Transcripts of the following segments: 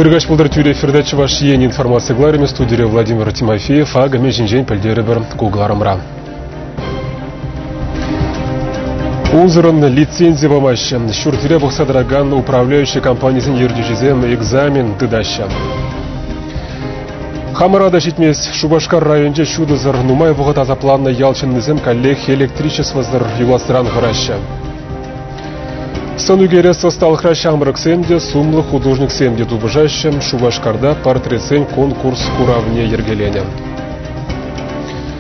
Ыркаҫ пултӑр тӳрӗ эфирта Чӑваш Ен информаци кӑларӑмӗ студире Владимир Тимофеев акӑ мӗн ҫинчен пӗлтерӗпӗр ку кӑларӑмра. Унсӑрӑн лицензи памаҫҫӗ. Ҫуртире пӑхса тӑракан управляющи компанисен ертӳҫисем экзамен тытаҫҫӗ. Хамӑра та ҫитмест. Шупашкар районӗнче ҫутӑсӑр, нумай вӑхӑт асапланнӑ ял ҫыннисем каллех электричествӑсӑр юласран хӑраҫҫӗ. Сӑн ӳкерес ӑсталӑхра ҫамрӑксем те, сумлӑ художниксем те тупӑшаҫҫӗ. Шупашкарта портретсен конкурс куравне йӗркеленӗ.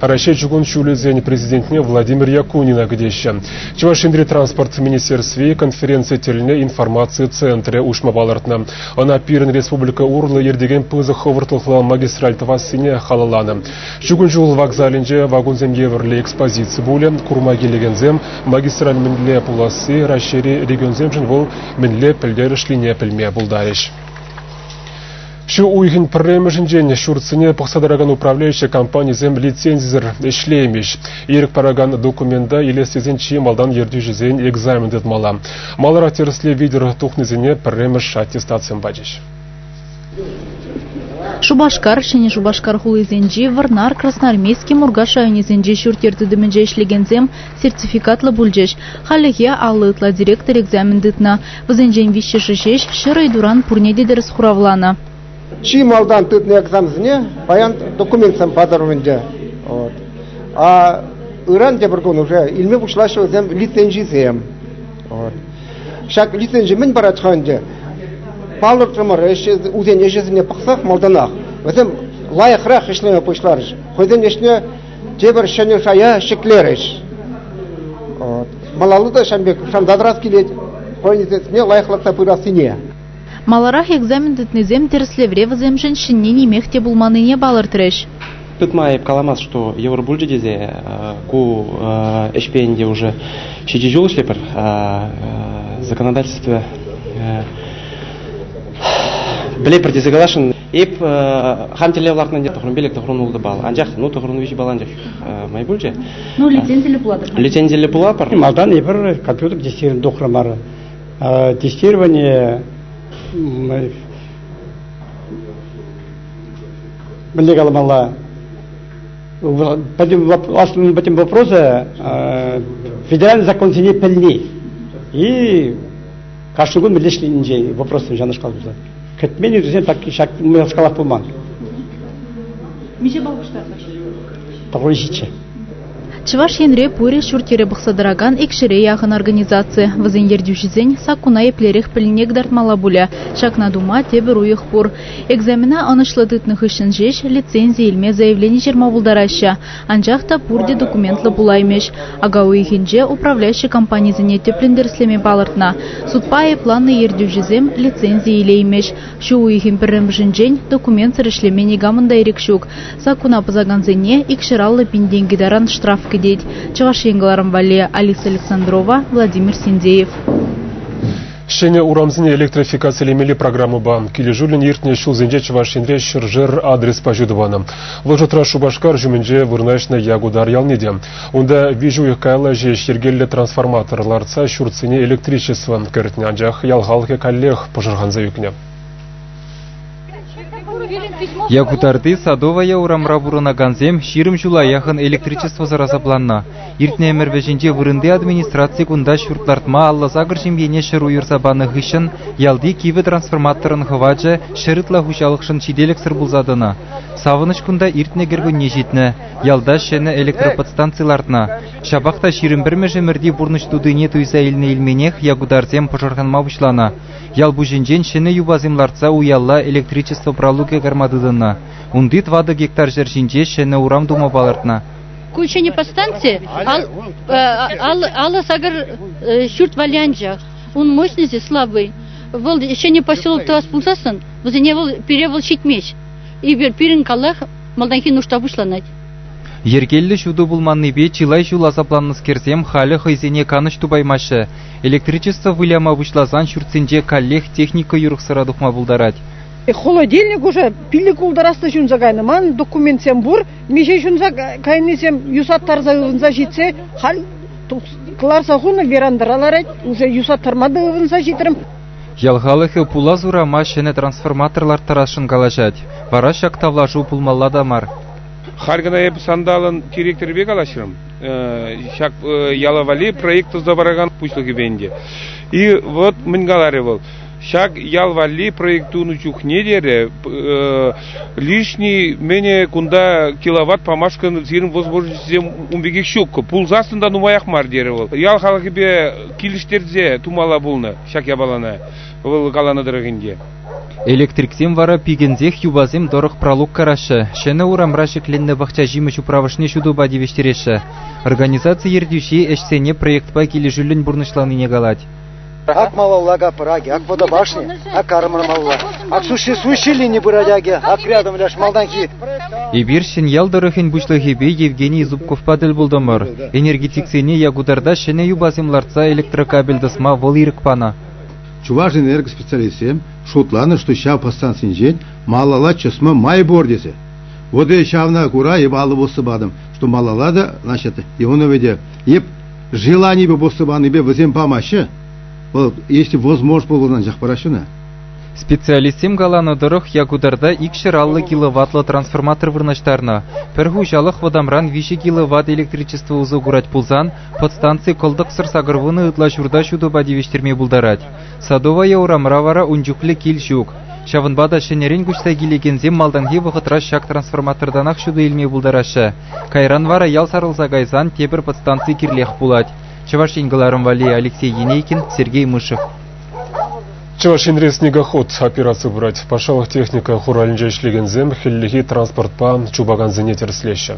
Раҫҫей чукун ҫулӗсен президентне Владимир Якунина кӗтеҫҫӗ. Чӑваш Енри транспорт министерстви конференци тӗлне информаци центрӗ уҫма палӑртнӑ. Ӑна пирӗн республика урлӑ иртекен пысӑк хӑвӑртлӑхлӑ магистраль тӑвассине халалланӑ. Чукун ҫул вокзалӗнче вагонсем евӗрлӗ экспозици пулӗ, курма килекенсем магистраль мӗнле пуласси Раҫҫейри регионсемшӗн вӑл мӗнле пӗлтерӗшлине пӗлме пултарӗҫ. Ҫу уйӑхӗн пӗрремӗшӗнчен ҫуртсене пӑхса тӑракан управляющи компанисем лицензисӗр ӗҫлеймӗҫ. Ирӗк паракан документа илес тесен чи малтан ертӳҫӗсен экзамен тытмалла. Маларах тӗрӗслев витӗр тухнисене пӗрремӗш аттестатсем пачӗҫ. Шупашкар, Ҫӗнӗ Шупашкар хулисенчи, Вӑрнар, Красноармейски, Муркаш районӗсенчи ҫурт-йӗр тытӑмӗнче ӗҫлекенсем сертификатлӑ пулчӗҫ. Хальлӗхе аллӑ ытла директор экзамен тытнӑ. Вӗсенчен виҫҫӗшӗ ҫеҫ ҫӗр ыйтуран пурне те тӗрӗс хуравланӑ. Чи малтан тытнӑ экзаменсене паян документсем патӑрӑмӗнче. Вот. А ыран тепӗр кун уже илме пуҫлаҫҫӗ вӗсем лицензисем. Вот. Ҫак лицензи мӗн парать-ха ӗнтӗ? Палӑртрӑмӑр ӗҫ, усен ӗҫӗсене пӑхсах малтанах вӗсем лайӑхрах ӗҫлеме пуҫларӗҫ. Хӑйсен ӗҫне тепӗр ҫӗнӗ шая ҫӗклерӗҫ. Малалла та ҫавӑн пек шанса тӑрас килет хӑйӗнсене лайӑхлатса пырассине. Маларах экзамен тытнисем тӗрӗслевре вӗсемшӗн ҫӗнни нимех те пулманнине палӑртрӗҫ. Тытма эп каламасть, что йывӑр пулчӗ тесе ку ӗҫпе ӗнтӗ уже ҫичӗ ҫул ӗҫлепӗр. Законодательство пӗлепӗр тесе каласшӑн. Эп хан тӗллев лартнӑ ӗнтӗ тӑхрӑм пилӗк тӑхрӑм ултӑ балл. Анчах ну тӑхрӑм виҫӗ балл анчах май пулчӗ. Ну лицензиллӗ пулатӑр. Лицензиллӗ пулатпӑр. Малтан эпир компьютер тестировани тухрӑмӑр. Тестирование мӗнле каламалла? Пӗтӗм пӗтӗм вопроса федеральный законсене пӗлни и Кашни кун мӗнле ӗҫленинчен вопроссем ҫавнашкал пырса. Кӗтмен ыйтусем так ҫак майлашкалах пулман. Миҫе балл пуҫтарнӑҫ? Таврӑҫичче. Чӑваш Енре пурӗ ҫурт-йӗре пӑхса тӑракан икҫӗре яхӑн организаци. Вӗсен ертӳҫисен саккуна еплерех пӗлнине кӑтартмалла пулӗ. Ҫакна тума тепӗр уйӑх пур. Экзамена ӑнӑҫлӑ тытнӑ хыҫҫӑн ҫеҫ лицензи илме заявлени ҫырма пултараҫҫӗ. Анчах та пурте документлӑ пулаймӗҫ. Ака уйӑхӗнче управляющи компанисене тӗплӗн тӗрӗслеме палӑртнӑ. Судпа айӑпланнӑ ертӳҫӗсем лицензи илеймӗҫ. Ҫу уйӑхӗн пӗрремӗшӗнчен документсӑр ӗҫлеме никамӑн та ирӗк ҫук. Саккуна пӑсакансене икҫӗр аллӑ пин тенкӗ таран штраф кӗтет. Чӑваш Ен кӑларӑм валли Алиса Александрова, Владимир Синдеев. Ҫӗнӗ урамсене электрификацилемелли программӑпа килӗшӳллӗн иртнӗ ҫулсенче Чӑваш Енре ҫӗршер адреспа ҫу тӑванӑ. Вӑл шутра Шупашкар ҫумӗнче вырнаҫнӑ Якутар ялне те. Унта виҫӗ уйӑх каялла ҫеҫ йӗркеллӗ трансформатор лартса ҫуртсене электричество кӗртнӗ, анчах ял халӑхӗ каллех пӑшӑрханса ӳкнӗ. Якутарти Садовая урамра пурӑнакансем ҫирӗм ҫула яхӑн электричествӑсӑр асапланнӑ. Иртнӗ ӗмӗр вӗҫӗнче вырӑнти администраци кунта ҫурт лартма алла-сакӑр ҫемьене ҫӗр уйӑрса панӑ хыҫҫӑн ялти кивӗ трансформаторӑн хӑвачӗ ҫӗр ытла хуҫалӑхшӑн ҫителӗксӗр пулса тӑнӑ. Савӑнӑҫ кунта иртнӗ кӗркунне ҫитнӗ. Ялта ҫӗнӗ электроподстанци лартнӑ. Ҫапах та ҫирӗм пӗрмӗш ӗмӗрти пурнӑҫ тутине туйса илнӗ илменех якутарсем пӑшӑрханма пуҫланӑ. Ял пуҫӗнчен ҫӗнӗ юпасем лартса уялла электричество пралукӗ карма тытӑннӑ. Унти тӑватӑ гектар ҫӗр ҫинче ҫӗнӗ урам тума палӑртнӑ. Ку ҫӗнӗ повстанци ал, э, ал, алӑ сакӑр э, ҫурт валли анчах. Ун мощности слабый. Вӑл ҫӗнӗ поселок тӑвас пулсассӑн, вӗсене вӑл пире вӑл ҫитмест. И пирӗн каллах малтанхи нушта пуҫланать. Йӗркеллӗ ҫутӑ пулманнипе чылай ҫул асапланнӑскерсем халӗ хӑйсене канӑҫ тупаймаҫҫӗ. Электричество выляма пуҫласан ҫуртсенче каллех техника юрӑхсӑра тухма пултарать. Холодильник уже пилӗк ултӑрасла ҫунса кайнӑ. Ман документсем пур, миҫе ҫунса кайнисем юсаттарса ывӑнса ҫитсе халь кӑларса хунӑ верандӑра ларать, уже юсаттарма та ывӑнса ҫитрӗм. Ял халӑхӗ пулас урама ҫӗнӗ трансформатор ларттарасшӑн калаҫать. Вара ҫак тавлашу пулмалла та мар. Халь кӑна эп сандалӑн директорӗпе калаҫрӑм. Ҫак яла валли проект туса паракан пуҫлӑхӗпе ӗнтӗ. И вот мӗн каларӗ вӑл. Ҫак ял валли проект тунӑ чухне терӗ лишний менее кунта киловатт памашкӑн сирӗн возможностьсем ун пекех ҫук. Пулсассӑн та нумаях мар терӗ вӑл. Ял халӑхӗпе килӗштерсе тумалла пулнӑ ҫак япалана. Вӑл каланӑ тӑрӑх ӗнтӗ. Электриксем вара пикенсех юпасем тӑрӑх пралук караҫҫӗ, ҫӗнӗ урамра ҫӗкленнӗ пахчаҫимӗҫ управӑшне ҫутӑпа тивӗҫтереҫҫӗ. Организаци ертӳҫи ӗҫсене проектпа килӗшӳллӗн пурнӑҫланине калать. Ак малалла капӑрак, ак вода башни, ак армӑрмалла, ак суши суши лини пырать акӗ, ак рядом ляш малтанхи. Эпир Ҫӗньял тӑрӑхӗн пуҫлӑхӗпе Евгений Зубковпа тӗл пултӑмӑр. Энергетиксене Якутарта ҫӗнӗ юпасем лартса электрокабель тӑсма вӑл ирӗк панӑ. Чувашэнерго специалистсем шутланӑ, что ҫав подстанцинчен малалла чӑсма май пур тесе. Вот и ҫавна кура эп алӑ пусса патӑм, что малалла та, значит, Иванове эп желанипе пусса панипе вӗсем памаҫҫӗ. Вӑл, если возможно пулган анчах параҫҫӗ Специалистсем каланӑ тӑрӑх, Якутарта икҫӗр аллӑ киловаттлӑ трансформатор вырнаҫтарнӑ. Пӗр хуҫалӑх вӑтамран виҫӗ киловатт электричество усӑ курать пулсан, Подстанци кӑлтӑксӑр сакӑр вунӑ ытла ҫурта ҫутӑпа тивӗҫтерме пултарать. Садовая урамра вара ун чухлӗ кил ҫук. Ҫавӑнпа та ҫӗнӗрен куҫса килекенсем малтанхи вӑхӑтра ҫак трансформатортанах ҫутӑ илме пултараҫҫӗ. Кайран вара ял сарӑлса кайсан тепӗр подстанци кирлех пулать. Чӑваш Ен кӑларӑм валли Алексей Енейкин, Сергей Мышев. Чӑваш Енре снегоход операци пырать. Патшалӑх техника хуралӗнче ӗҫлекенсем хӗллехи транспортпа чупакансене тӗрӗслеҫҫӗ.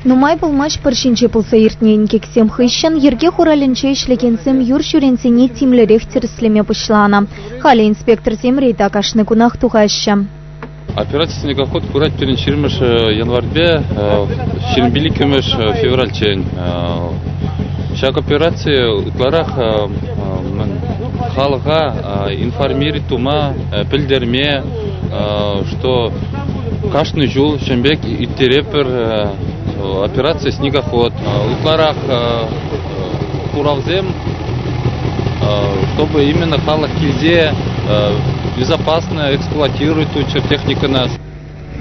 Нумай пулмасть пӑр ҫинче пулса иртнӗ инкексем хыҫҫӑн йӗрке хуралӗнче ӗҫлекенсем юр ҫӳренсене тимлӗрех тӗрӗслеме пуҫланӑ. Халӗ инспекторсем рейда кашни кунах тухаҫҫӗ. Операцисене ход пырать пирӗн 20 январьпе ҫирӗмпиллӗкмӗш февральччен. Ҫак операци ытларах халӑха информири тума пӗлтерме, что кашни ҫул ҫын пек ирттеретпӗр операци «Снегоход». Ытларах куравсем, чтобы именно халӑх килсе безопасно эксплуатирует ту техникӑна.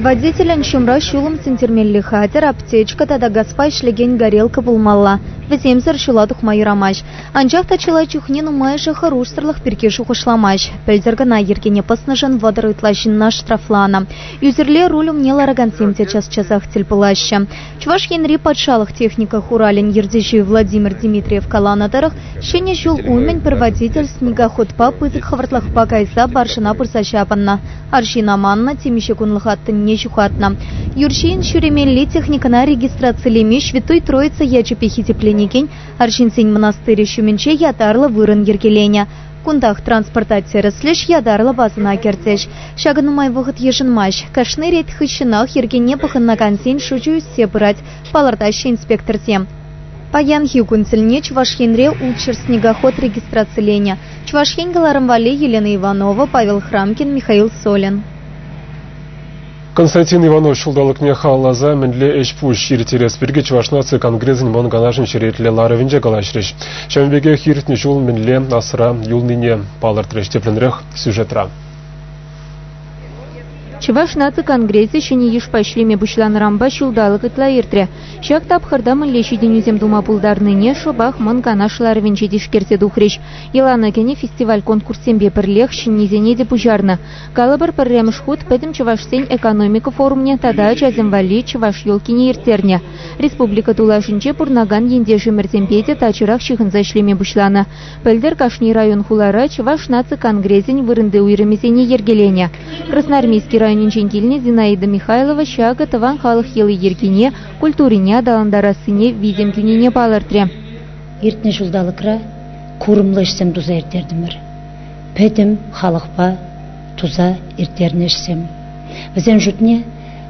Водителӗн ҫумра ҫулӑм сӳнтермелли хатӗр, аптечка тата газпа ӗҫлекен горелка пулмалла. Вӗсемсӗр ҫула тухма юрамасть. Анчах та чылай чухне нумайӑшӗ хӑрушсӑрлӑх пирки шухӑшламасть. Пӗлтӗр кӑна йӗркене пӑснӑшӑн вӑтӑр ытла ҫынна штрафланӑ. Ӳсӗрле руль умне ларакансем те час-часах тӗл пулаҫҫӗ. Чӑваш Енри патшалӑх техника хуралӗн ертӳҫи Владимир Дмитриев каланӑ тӑрӑх, ҫӗнӗ ҫул умӗн пӗр водитель снегоходпа пысӑк хӑвӑртлӑхпа кайса баржӑна пырса ҫапӑннӑ. Арҫын аманнӑ, темиҫе кунлӑха тӑнне ҫухатнӑ. Юр ҫийӗн ҫӳремелли техникӑна регистрацилеме Ҫвятой Троица ячӗпе хисепленекен арҫынсен мӑнастырӗ ҫумӗнче ятарлӑ вырӑн йӗркеленӗ. Кунтах транспорта тӗрӗслӗҫ ятарлӑ базӑна кӗртӗҫ. Ҫакӑ нумай вӑхӑт йышӑнмасть. Кашни рейд хыҫҫӑнах йӗркене пӑхӑнакансен шучӗ ӳссе пырать, палӑртаҫҫӗ инспекторсем. Паянхи кун тӗлне Чӑваш Енре ултҫӗр снегоход регистрациленӗ. Чӑваш Ен кӑларӑм валли Елена Иванова, Павел Храмкин, Михаил Солин. Константин Иванов ҫулталӑкне халалласа мӗнле ӗҫ-пуҫ ирттерес пирки Чӑваш наци конгресӗн Мӑн Канашӗн черетлӗ ларӑвӗнче калаҫрӗҫ. Ҫавӑн пекех иртнӗ ҫул мӗнле асра юлнине палӑртрӗҫ тӗплӗнрех сюжетра. Чӑваш наци конгресӗ ҫӗнӗ йышпа ӗҫлеме пуҫланӑранпа ҫулталӑк ытла иртрӗ. Ҫак тапхӑрта мӗнле ҫитӗнӳсем тума пултарнине шӑпах Мӑн Канаш ларӑвӗнче тишкерсе тухрӗҫ. Йӑлана кӗнӗ фестиваль-конкурссемпе пӗрлех ҫӗннисене те пуҫарнӑ. Калӑпӑр, пӗрремӗш хут пӗтӗм чӑвашсен экономика форумне тата ачасем валли чӑваш елкине ирттернӗ. Республика тулашӗнче пурӑнакан ентешӗмӗрсемпе те тачӑрах ҫыхӑнса ӗҫлеме пуҫланӑ. Пӗлтӗр кашни район хулара Чӑваш наци конгресӗн вырӑнти уйрӑмӗсене йӗркеленӗ. Красноармейски районӗнчен килнӗ Зинаида Михайлова ҫакӑ тӑван халӑх йӑли-йӗркине, культурине аталантарассине витӗм кӳнине палӑртрӗ. Иртнӗ ҫулталӑкра курӑмлӑ ӗҫсем туса ирттертӗмӗр. Пӗтӗм халӑхпа туса ирттернӗ ӗҫсем. Вӗсен шутне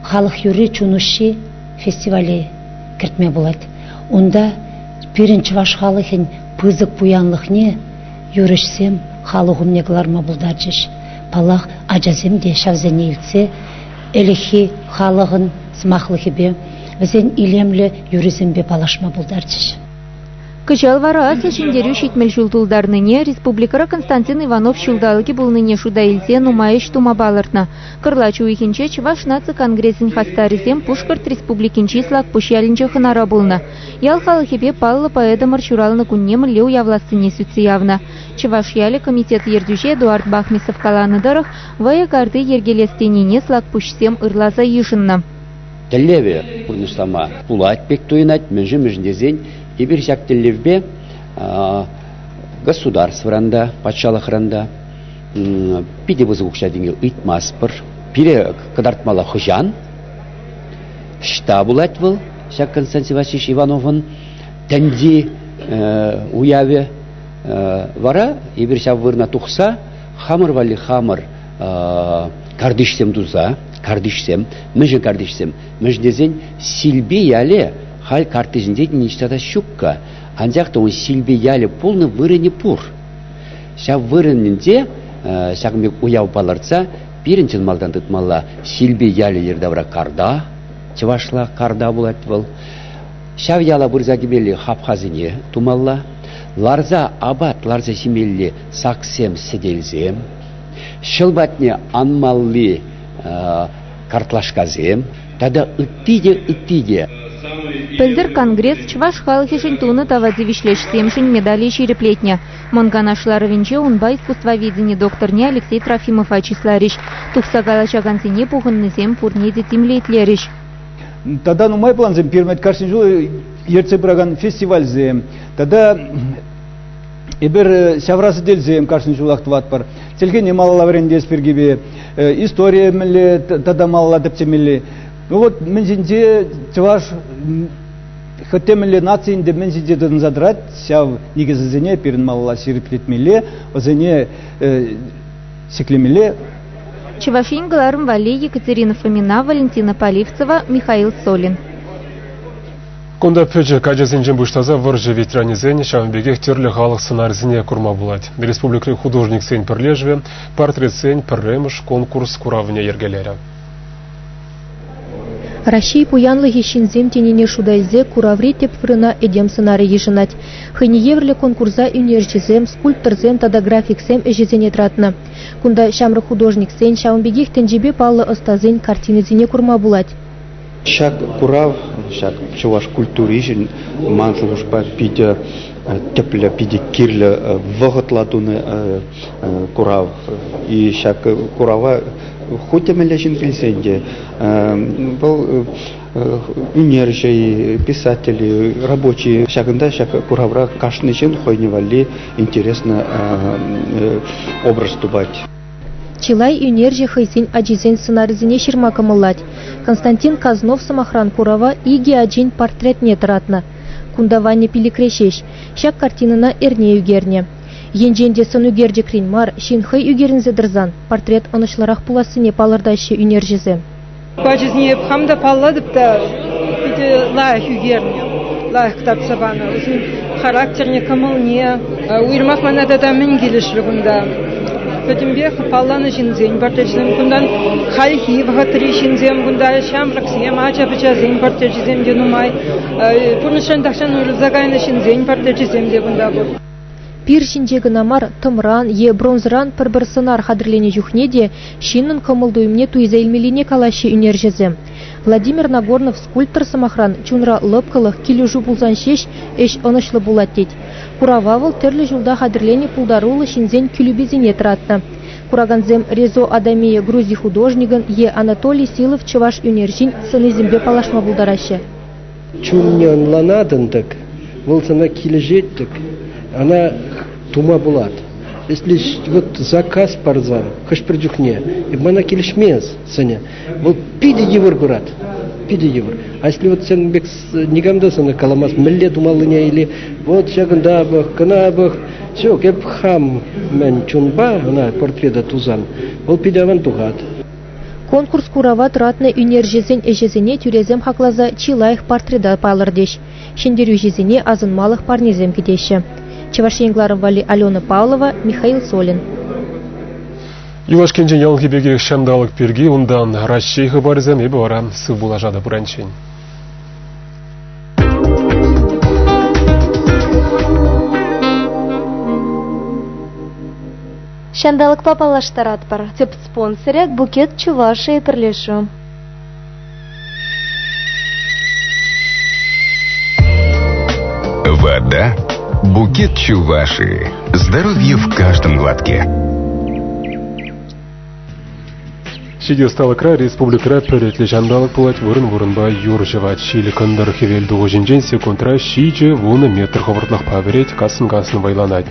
халӑх юрри чун уҫҫи фестивале кӗртме пулать. Унта пирӗн чӑваш халӑхӗн пысӑк пуянлӑхне юрӑҫсем халӑх умне кӑларма пултарчӗҫ. Паллах, ачасем те ҫавсене илтсе ӗлӗкхи халӑхӑн сӑмахлӑхӗпе, вӗсен илемлӗ юррисемпе паллашма пултарчӗҫ. Кӑҫал вара Аслӑ Ҫӗнтерӳ ҫитмӗл ҫул тултарнине республикӑра Константин Иванов ҫулталӑкӗ пулнине шута илсе нумай ӗҫ тума палӑртнӑ. Кӑрлач уйӑхӗнче Чӑваш наци конгресӗн хастарӗсем Пушкӑрт Республикинчи Слакпуҫ ялӗнче хӑнара пулнӑ. Ял халӑхӗпе паллӑ поэтӑмӑр ҫуралнӑ кунне мӗнле уявлассине сӳтсе явнӑ. Чӑваш ялӗ комитет ертӳҫи Эдуард Бахмисов каланӑ тӑрӑх, вӑйӑ карти йӗркелес тенине слакпуҫсем ырласа йышӑннӑ. Тӗллевӗ пурнӑҫлама пулать пек туйӑнать, мӗншӗн-мӗншӗн тесен эпир ҫак тӗллевпе государствӑран та, патшалӑхран та питӗ пысӑк укҫа-тенке ыйтмастпӑр. Пире кӑтартмалла хӑҫан? Ӑҫта пулать вӑл ҫак Константин Васильевич Ивановӑн тӗнчи уявӗ? Вара эпир ҫав вырӑна тухса хамӑр валли хамӑр картишсем туса, картишсем, мӗншӗн картишсем? Мӗншӗн тесен Силпи яле халь картишӗнче ниҫта та ҫукка. Анчах та ун Силпи ялӗ пулнӑ вырӑнӗ пур. Ҫав вырӑнӗнче ҫакӑн пек уяв палӑртса Пирӗн чӑн малтан тытмалла Силпи ялӗ йӗртавра карта, чӑвашла карта пулать вӑл. Ҫав яла пырса кӗмелли хапхасене тумалла, ларса апат ларса ҫимелли саксем сӗтелсем, ҫӑл патне анмалли картлашкасем тата ытти те ытти те. Пӗлтӗр Конгресс чӑваш халӑхӗшӗн тунӑ тава тивӗҫлӗ ӗҫсемшӗн медале ҫирӗплетнӗ. Мӑн Канаш ларӑвӗнче унпа искусствоведени докторне Алексей Трофимова чысларӗҫ. Тухса калаҫакансене пухӑннисем пурне те тимлетлерӗҫ. Тата нумай плансем пирӗн кашни ҫул ертсе пыракан фестивальсем, тата эпир э, ҫавра сӗтелсем кашни ҫулах тӑватпӑр. Чӗлхене малалла вӗрентес пиркипе э, историе мӗнле тата малалла тӗпчемелли. Ну вот мӗн ҫинче чӑваш Хӑть мӗнле нацин те мӗн ҫинче тытӑнса тӑрать, ҫав никӗсӗсене пирӗн малалла ҫирӗплетмелле, вӗсене ҫӗклемелле. Чӑваш Ен кӑларӑм валли Екатерина Фомина, Валентина Поливцева, Михаил Солин. Кунта пӗчӗк ачасенчен пуҫласа вӑрҫӑ ветеранӗсен, ҫавӑн пекех тӗрлӗ халӑх сӑнарӗсене курма пулать. Республикӑри художниксен пӗрлешӗвӗ портретсен пӗрремӗш конкурс куравне йӗркелерӗ. Раҫҫей пуянлӑхӗ ҫынсем тенине шута илсе кураври тӗп вырӑна этем сӑнарӗ йышӑнать. Хӑйне евӗрлӗ конкурса ӳнерҫӗсем, скульпторсем тата графиксем ӗҫӗсене тӑратнӑ. Кунта ҫамрӑк художниксен, ҫавӑн пекех тӗнчепе паллӑ ӑстасен картинисене курма пулать. Ҫак курав ҫак чӑваш культури ҫын ман шухӑшпа питӗ тӗплӗ, питӗ кирлӗ вӑхӑтла тунӑ курав. И ҫак курава Ху тӗмелле ҫын килсен те вӑл ӳнерҫӗ-и, писатель-и, рабочи ҫакӑнта ҫак куравра кашни ҫын хӑйне валли интереснӑ образ тупать. Чылай ӳнерҫӗ хӑйсен ачисен сӑнарӗсене ҫырма кӑмӑллать. Константин Казнов, сӑмахран, курава икӗ ачин портретне тӑратнӑ. Кунта Ваня пилӗкре ҫеҫ. Ҫак картинӑна эрне ӳкернӗ. Енчен те сӑн ӳкерчӗкрен мар, ҫын хӑй ӳкерӗнсе тӑрсан портрет ӑнӑҫлӑрах пулассине палӑртаҫҫӗ ӳнерҫӗсем. Ачасене эп хам та паллатӑп та питӗ лайӑх ӳкернӗ, лайӑх кӑтартса панӑ. Вӗсен характерне, кӑмӑлне. Уйрӑмах мана тата мӗн килӗшрӗ кунта? Пӗтӗмпех палланӑ ҫынсен портречӗсем кунтан хальхи вӑхӑтри ҫынсем кунта ҫамрӑксем, ача-пӑчасен портречӗсем те нумай. Пурнӑҫран тахҫан уйрӑлса кайнӑ ҫынсен портречӗсем те кунта пур. Пир ҫинче кӑна мар, тӑмран е бронзӑран пӗр-пӗр сӑнар хатӗрленӗ чухне те ҫыннӑн кӑмӑл-туйӑмне туйса илмеллине калаҫҫӗ ӳнерҫӗсем. Владимир Нагорнов скульптор сӑмахран чунра лӑпкӑлӑх, килӗшӳ пулсан ҫеҫ ӗҫ ӑнӑҫлӑ пулать тет. Курава вӑл тӗрлӗ ҫулта хатӗрленӗ пултаруллӑ ҫынсен кӳлӳписене тӑратнӑ. Куракансем Резо Адамия Грузи художникӑн е Анатолий Силов чӑваш ӳнерҫин сӑнисемпе паллашма пултараҫҫӗ. Чунне ӑнланатӑн-тӑк, вӑл сана килӗшет-тӗк, ӑна тума пулать. Если вот заказ парсан хӑш-пӗр чухне мана килӗшмест сӑнӗ, вӑл питӗ йывӑр пырать, питӗ йывӑр. А если вот сен пек никам та сана каламасть, мӗнле тумаллине или вот ҫакӑнта пӑх, кӑна пӑх, ҫук, эп хам мӗн чунпа ӑна портрета тусан, вӑл питӗ аван тухать. Конкурс-курава тӑратнӑ ӳнерҫӗсен ӗҫӗсене тӳресем хакласа чи лайӑх портрета палӑртӗҫ. Ҫӗнтерӳҫӗсене асӑнмалӑх парнесем кӗтеҫҫӗ. Чӑваш Ен кӑларӑм валли Алена Павлова, Михаил Солин. Юлашкинчен яланхи пекех ҫанталӑк пирки, унтан Раҫҫей хыпарӗсем эпӗ вара сыв пулашатӑп пуранччен. Ҫанталӑкпа паллаштаратпӑр, тӗп спонсорӗ – Букет Чувашии пӗрлешӳ. Вода Букет Чувашии. Здоровье в каждом глотке. Ҫити ӑсталӑхра республикӑра пӗр ӗтлӗ ҫанталӑк пулать, вырӑн-вырӑнпа юр ҫӑвать. Ҫил кӑнтӑр хӗвел тухӑҫӗнчен секундра ҫичӗ вунӑ метр хӑвӑртлӑхпа вӗрет, кассӑн-кассӑн вӑйланать.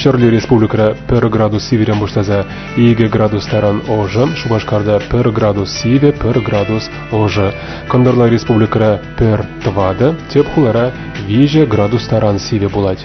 Ҫӗрли республикӑра пӗр градус сивӗрен пуҫласа икӗ градус таран ӑшӑ, Шупашкарта пӗр градус сивӗ, пӗр градус ӑшӑ. Кӑнтӑрла республикӑра пӗр тӑватӑ, тӗп хулара виҫӗ градус таран сивӗ пулать.